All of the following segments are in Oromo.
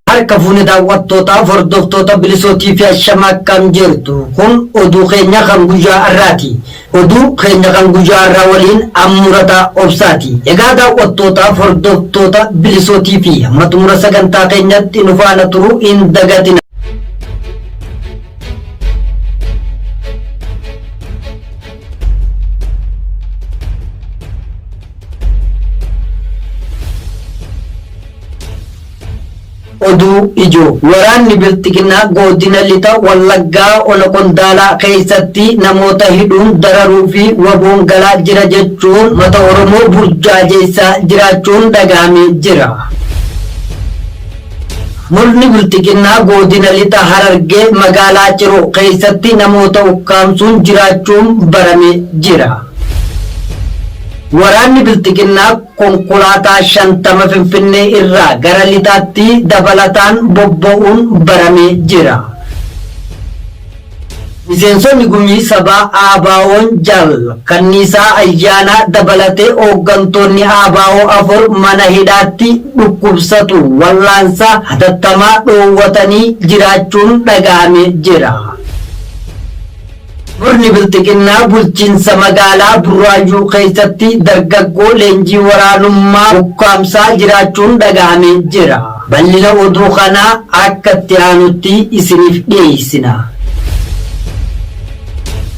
Harka fuune daawwattootaa fi hordoftoota bilisootii fi ashama akkam jirtu. Kun oduu keenya kan guyyaa har'aati. Oduu keenya kan guyyaa har'aa waliin ammurataa obsaati. Egaa daawwattootaa fi hordoftoota bilisootii fi hamma xumura sagantaa keenyatti nu faana turuu hin dagatina. Oduu ijoo waraanni bilxiginaa godina lixa wallaggaa ona qondaalaa keessatti namoota hidhuun dararuu fi waboon galaa jira jechuun mata oromoo burjaajeessaa jiraachuun dhagahamee jira. Murni Bilxiginnaa Goodina Lixa Harargee Magaalaa Ciroo keessatti namoota ukkaamsuun jiraachuun barame jira. Waraanni Bilxiginnaa konkolaataa 50 Finfinnee irraa gara Lixaatti dabalataan bobba'uun barame jira. Miseensonni Gumii Sabaa ABOn Jaal Kanniisaa Ayyaanaa dabalatee hooggantoonni abo 4 mana hidhaatti dhukkubsatu wal'aansa hatattamaa dhoowwatanii jiraachuun dhaga'amee jira. Murni Bilxiginnaa bulchiinsa magaalaa Burraayyuu keessatti dargaggoo leenjii waraanummaa ukkaamsaa jiraachuun dhaga'amee jira. Ballina oduu kanaa akka itti aanutti isiniif dhiyeessina.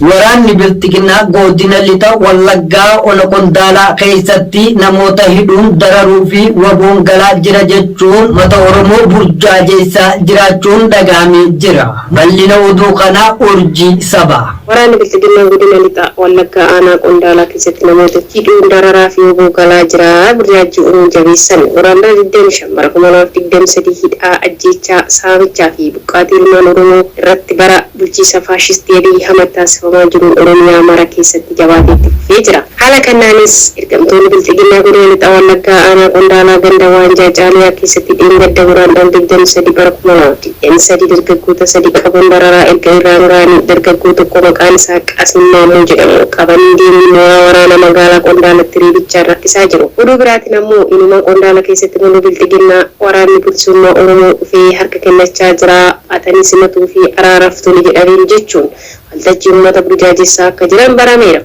Waraanni Bilxiginnaa Godina Lixa Wallaggaa Ona Qondaalaa keessatti namoota hidhuun dararuu fi waboon galaa jira jechuun uummata Oromoo burjaajeessaa jiraachuun dhaga'amee jira. Ballina oduu kanaa Urjii Sabaa. Waraanni Bilxiginnaa Godina Lixa Wallaggaa Aanaa Qondaalaa keessatti namoota hidhuun dararaa fi wbo galaa jira, burjaajjii uumuu jabeessan, Guraandhala 25 bara 2023 hidhaa, ajjeechaa, saamichaa fi buqqaatii ilmaan Oromoo irratti bara bulchiinsa faashistii Abiy Ahmad taasifamaa jiruun Oromiyaa mara keessatti jabaatee itti fufee jira. Haala kannaanis ergamtoonni Bilxiginnaa Godina Lixa Wallaggaa Aanaa Qondaalaa Ganda Waanjaa Caaliyaa keessatti dheengadda Guraandhala 23 bara 2023 dargaggoota sadii qabuun dararaa erga irraan ga'anii dargaggoo tokko maqaan isaa Qaasim Maammoo jedhamu qabanii deemii mooraa waraanaa magaalaa Qondaalatti reebichaan rakkisaa jiru. Oduu biraatiin ammoo inuma Qondaala keessatti Moloo Bilxiginnaa waraanni Bilisummaa Oromoo dhufee harka kennachaa jira atanii simatuu fi araaraaf toli jedhaniiru jechuun waltajjii uummata burjaajessaa akka jiran barameera.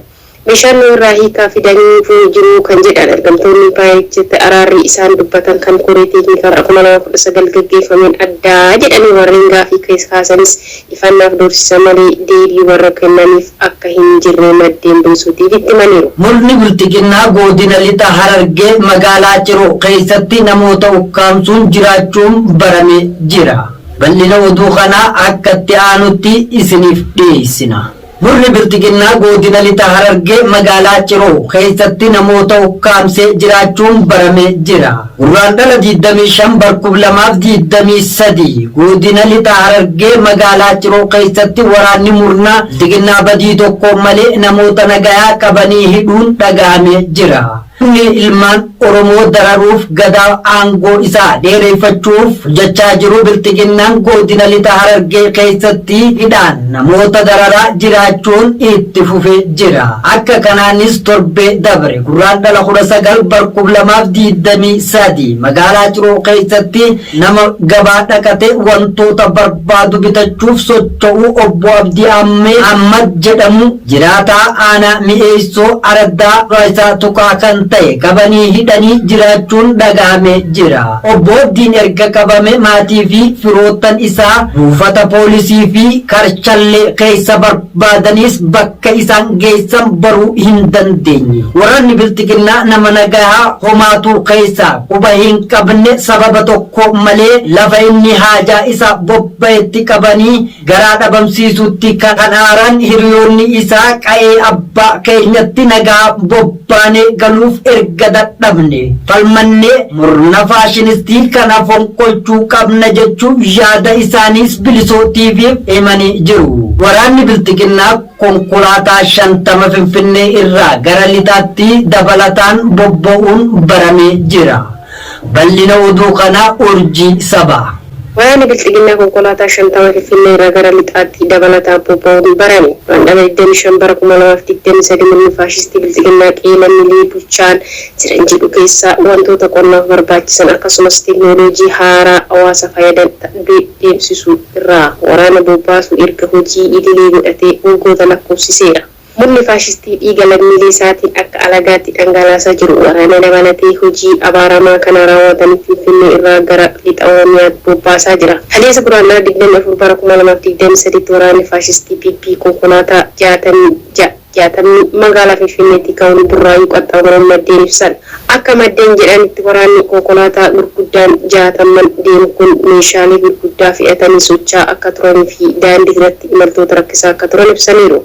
Bishaan nu irraa hiikaa fidanii hifuu jiru kan jedhan ergamtoonni Paayeechitti araarri isaan dubbatan kan koree teeknikaa bara kuma lamaa fi kudha sagal gaggeeffameen adda jedhanii warreen gaafii kaasanis ifannaaf doorsisa malee deebii warra kennaniif akka hin jirre maddeen Bsuu TVtti himaniiru. Murni Bilxiginnaa Goodina Lixa Harargee Magaalaa Ciroo keessatti namoota ukkaamsuun jiraachuun barame jira. Bal'ina oduu kanaa akka itti aanutti isiniif dhiyeessina. Murni Bilxiginnaa Goodina Lixa Harargee magaalaa Ciroo keessatti namoota ukkaamsee jiraachuun baramee jira. Gurraandhala 25 bar 2023 Goodina Lixa Harargee magaalaa Ciroo keessatti waraanni murnaa Bilxiginnaa badii tokkoon malee namoota nagayaa qabanii hidhuun dhagahamee jira. Humni ilmaan Oromoo dararuuf Gadaa aangoo isaa dheereeffachuuf jechaa jiru Bilxiginnaan Godina Lixa Harargee keessatti hidhaan namoota dararaa jiraachuun itti fufee jira. Akka kanaanis torbee dabre Gurraandhala 19 bar 2023 magaalaa Ciroo keessatti nama gabaa dhaqatee wantoota barbaadu bitachuuf socho'u Obbo Abdii Ahmed jedhamu Jiraataa aanaa Mi'eessoo araddaa Raayisaa Tukaa kan ta'e qabanii hidhanii jiraachuun dhagahamee jira. Obbo Abdiin erga qabame maatii fi firoottan isaa buufata poolisii fi Karchallee keessa barbaadaniis bakka isaan geessan baruu hin dandeenye. Waraanni Bilxiginnaa nama nagahaa homaatuu keessaa quba hin qabne sababa tokko malee lafa inni haajaa isaa bobba'etti qabanii Garaa dhabamsiisuutti kan aaran hiriyoonni isaa qa'ee abbaa keenyatti nagaan bobbaanee galuuf erga dadhabnee, falmannee murna faashinistii kana fonqolchuu qabna jechuun yaada isaaniis Bilisoo TV'f himanii jiru. Waraanni Bilxiginnaa konkolaataa 50 Finfinnee irraa gara Lixaatti dabalataan bobba'uun baramee jira. Bal'ina oduu kanaa Urjii Sabaa. Waraanni Bilxiginnaa konkolaataa 50 Finfinnee irraa gara Lixaatti dabalataan bobba'uun barame. Guraandhala 25 bara 2023 murni faashistii Bilxiginnaa qe'ee lammilee bulchaan jiran jedhu keessaa wantoota qonnaaf barbaachisan akkasumas teeknooloojii haaraa hawaasa fayadan deemsisuu irraa waraana bobbaasuu erga hojii idilee godhatee waggoota lakkoofsiseera. Murni faashistii dhiiga lammiilee isaatiin akka alagaatti dhangalaasaa jiru waraana dabalatee hojii abaaramaa kana raawwataniif Finfinnee irraa gara Lixa Oromiyaatti bobbaasaa jira. Kaleessa Guraandhala 24 bara 2023tti waraanni faashistii PP konkolaataa 66 60 magaalaa Finfinneetii ka'uun Burraayyuu qaxxaamuruun maddeen ibsan. Akka maddeen jedhanitti waraanni konkolaataa gurguddaan jaatamman deemu kun meeshaalee gurguddaa fe'atanii socha'aa akka turanii fi daandii irratti imaltoota rakkisaa akka turan ibsaniiru.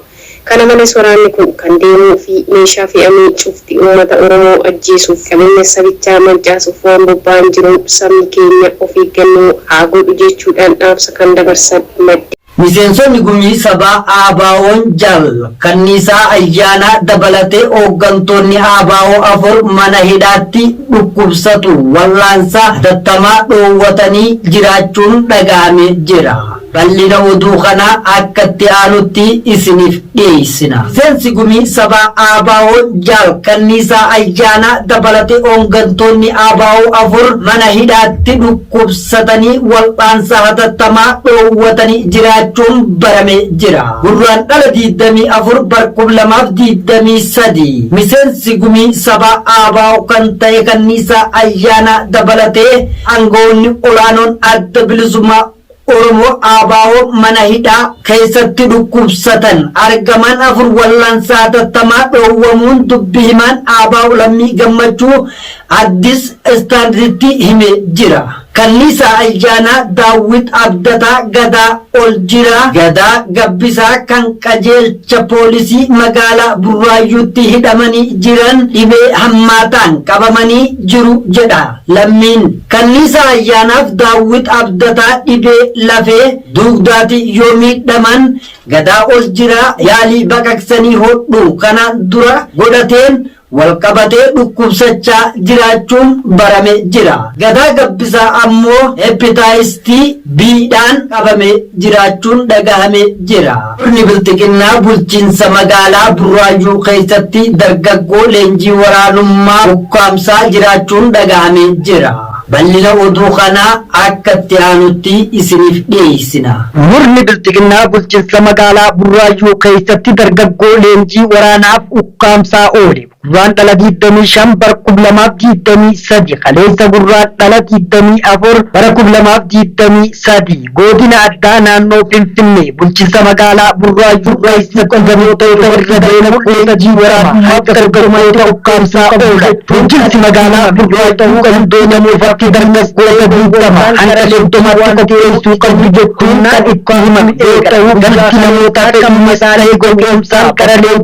Kana malees waraanni kun kan deemuu fi meeshaa fe'amee cufti uummata Oromoo ajjeesuuf qabeenya sabichaa mancaasuuf waan bobba'an jiruun sabni keenya of eeggannoo haa godhu jechuudhaan dhaamsa kan dabarsan maddeen. Miseensonni Gumii Sabaa ABOn Jaal Kanniisaa Ayyaanaa dabalatee hooggantoonni abo afur mana hidhaatti dhukkubsatu wal'aansa hatattamaa dhoowwatanii jiraachuun dhaga'ame jira. Bal'ina oduu kanaa akka itti aanutti isiniif dhiyeessina. Miseensi Gumii Sabaa ABO Jaal Kanniisaa Ayyaanaa dabalatee hooggantoonni ABO afur mana hidhaatti dhukkubsatanii wal'aansa hatattamaa dhoowwatanii jiraachuun baramee jira. Gurraandhala 24 bar 2023 miseensi Gumii Sabaa ABO kan ta'e Kanniisaa Ayyaanaa dabalatee aangawoonni olaanoon Adda Bilisummaa Oromoo ABO mana hidhaa keessatti dhukkubsatan argaman afur wallaansa hatattamaa dhoowwamuun dubbi himaan ABO Lammii Gammachuu Addis Standard'tti himee jira. Kalliisaa Ayyaanaa, Daawwit Abdataa, Gadaa Oljiraa, Gadaa Gabbisaa kan qajeelcha poolisii magaalaa Burraayyuutti hidhamanii jiran dhibee hammaataan qabamanii jiru jedha. Lammiin Kanniisa Ayyaanaaf Daawwit Abdataa dhibee lafee duugdaatiin yoo miidhaman Gadaa ol jiraa yaalii baqaqsanii hodhuu kanaan dura godhateen walqabatee dhukkubsachaa jiraachuun barame jira. Gadaa Gabbisaa ammoo Hepitaayiis B dhaan qabamee jiraachuun dhagahame jira. Murni Bilxiginnaa bulchiinsa magaalaa Burraayyuu keessatti dargaggoo leenjii waraanummaa ukkaamsaa jiraachuun dhagahamee jira. Bal'ina oduu kanaa akka itti aanutti isiniif dhiyeessina. Murni Bilxiginnaa bulchiinsa magaalaa Burraayyuu keessatti dargaggoo leenjii waraanaaf ukkaamsaa oole. Gurraandhala 25 bara 2023 kaleessa Gurraandhala 24 bara 2023 Goodina Addaa Naannoo Finfinnee Bulchinsa Magaalaa Burraayyuu keessatti gandoota irra deemuun leenjii waraanaa harka dargaggoota ukkaamsaa oolan Bulchinsi Magaalaa Burraayyuu gandoota irratti dargaggoota 20 hanga 30tti qopheessuu qabdu jechuun kan itti himan yoo ta'u gandoota namoota fedhii isaanii gowwoomsaan gara leenjii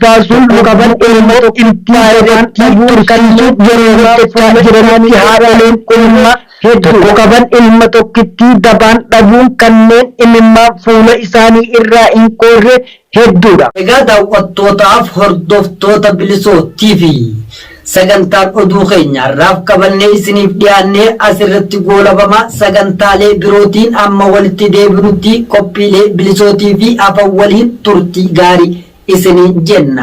baasuun nu qaban ilma tokkittii irratti tursiisuuf yeroo hojjechaa jiranitti haadholeen ilma tokko qaban ilma tokkittii dabaan dhabuun kanneen imimmaan fuula isaanii irraa hin qoorre hedduudha. Egaa daaw'attootaaf hordoftoota Bilisoo TV sagantaan oduu keenya har'aaf qabannee isiniif dhiyaannee asirratti goolabama sagantaalee birootiin amma walitti deebinutti qophiilee Bilisoo TV hafan waliin turtii gaarii. isiniin jenna.